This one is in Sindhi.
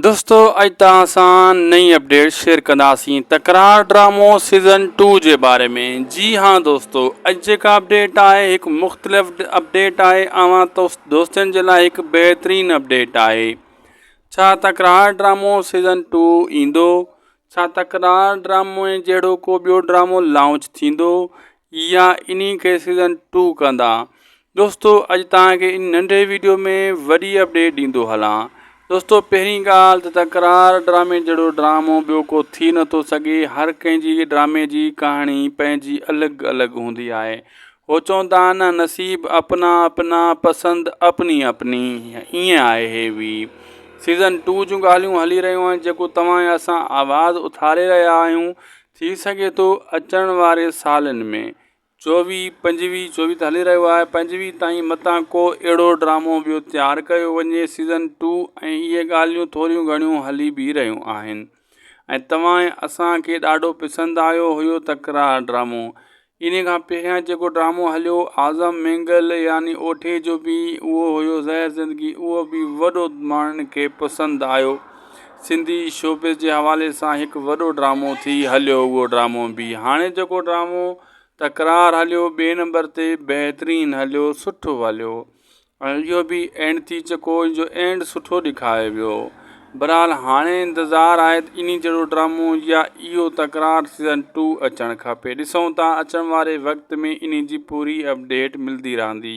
دوستو اڄ توهان سان نئين اپڊيٽ شيئر ڪنداسين تڪرار ڊرامو سيزن ٽو جي باري ۾ جي ها دوستو اڄ جيڪا اپڊيٽ آهي هڪ مختلف اپڊيٽ آهي اوهان دوستن جي لاء هڪ بهترين اپڊيٽ آهي ڇا تڪرار ڊرامو سيزن ٽو ايندو ڇا تڪرار ڊرامي جهڙو ڪو ٻيو ڊرامو لانچ ٿيندو يا انهي کي سيزن ٽو ڪندا دوستو اڄ تهان کي ان ننڍي ويڊيو ۾ وڏي اپڊيٽ ڏيندو هلان دوستو پهرين ڳالهه ته تڪرار ڊرامي جهڙو ڊرامو ٻيو ڪو ٿي نٿو سگهي هر ڪنهن جي ڊرامي جي ڪهاڻي پنهنجي الڳ الڳ هوندي آهي هو چوندا آهن نه نصيب اپنا اپنا پسند اپني اپني ائين آهي هي وي سيزن ٽو جون ڳالهيون هلي رهيون آهن جيڪو توهان يا اسان آواز اٿاري رهيا آهيون ٿي سگهي ٿو اچڻ واري سالن ۾ چوويهه پنجويهه چوويهه ته هلي رهيو آهي پنجويهه تائين متان ڪو اهڙو ڊرامو ٻيو تيار ڪيو وڃي سيزن ٽو ۽ اهي ڳالهيون ٿوريون گهڻيون هلي به رهيون آهن ۽ توهان ۽ اسان کي ڏاڍو پسند آيو هيو تڪرار ڊرامو انهيء کان پهريان جيڪو ڊرامو هليو اعظم مينگل يعني اوٺي جو به اهو هيو زهر زندگي اهو به وڏو ماڻهن کي پسند آيو سنڌي شوبز جي حوالي سان هڪ وڏو ڊرامو ٿي هليو اهو ڊرامو به هاڻي جيڪو ڊرامو تڪرار هليو ٻئي نمبر تي بهترين هليو سٺو هليو ۽ اهو به اينڊ ٿي چڪو ان جو اينڊ سٺو ڏيکايو ويو برحال هاڻي انتظار آهي ته انهي جهڙو ڊرامو يا اهو تڪرار سيزن ٽو اچڻ کپي ڏسون ٿا اچڻ واري وقت ۾ انهي جي پوري اپڊيٽ ملدي رهندي.